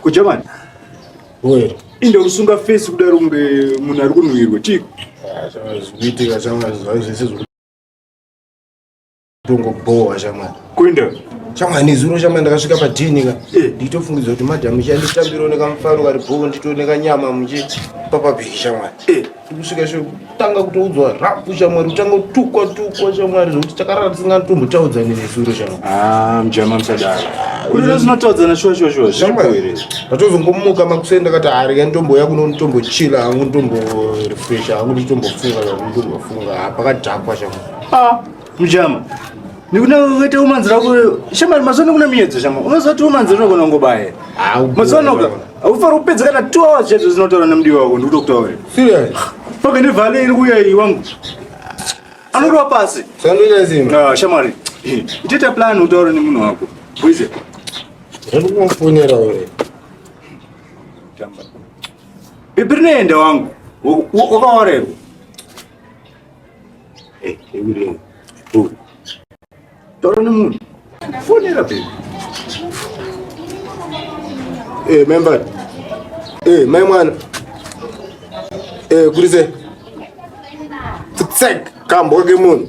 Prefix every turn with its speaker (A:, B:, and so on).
A: kugermany
B: oye inde usunga
A: fesi kudaro kunge munhu ari kunhuhirwa chii zvinoitika
B: shamwari zvai zvese zvotongobowa shamwari kuenda
A: shamwari nezuro
B: shamwari ndakasvika padini ka eh. nditofungidzwa kuti madhamu chanditambirawo nekamufaro kari bhoo nditooneka nyama muchipa pabheki shamwari eh. kusvika kutanga kutoudzwa rapu shamwari kutanga kutukwa tukwa shamwari zvokuti takarara tisingatombotaudza nevesuro shamwarijama ah, musadaro
A: kuti tozinotaudzana shuwa shuwa shuwa zvamuire
B: ndatozongomuka makuseni ndakati harika nditomboya kuno nditombochila hangu nditomborefresha hangu nditombofunga hangu nditombofunga ah, pakadhakwa shamwari ah. Mujama.
A: Nikuna wete umanzi rako shamari mazono kuna miyedzo shama. Unozoti umanzi rako kuna ngobaye. Mazono ka. Ufara upedza kana 2 hours chedzo zinotaura namdi wako ndikutokutaura. Serious.
B: Paka ni vale
A: iri kuya iyi wangu. Anorwa pasi. Sandunya zimba. Ah
B: shamari.
A: Iteta plan utaura nemunhu wako. Kuize. Hebu
B: kumfonera wewe.
A: Jamba. Ibirine ende wangu. Wakaorerwa. Hey, hey, hey, hey. Oh. Toro ni munhu. Fonera baby.
B: Eh, member. Eh, mai mwana. Eh, kurize. Tsek, kambo kake munhu.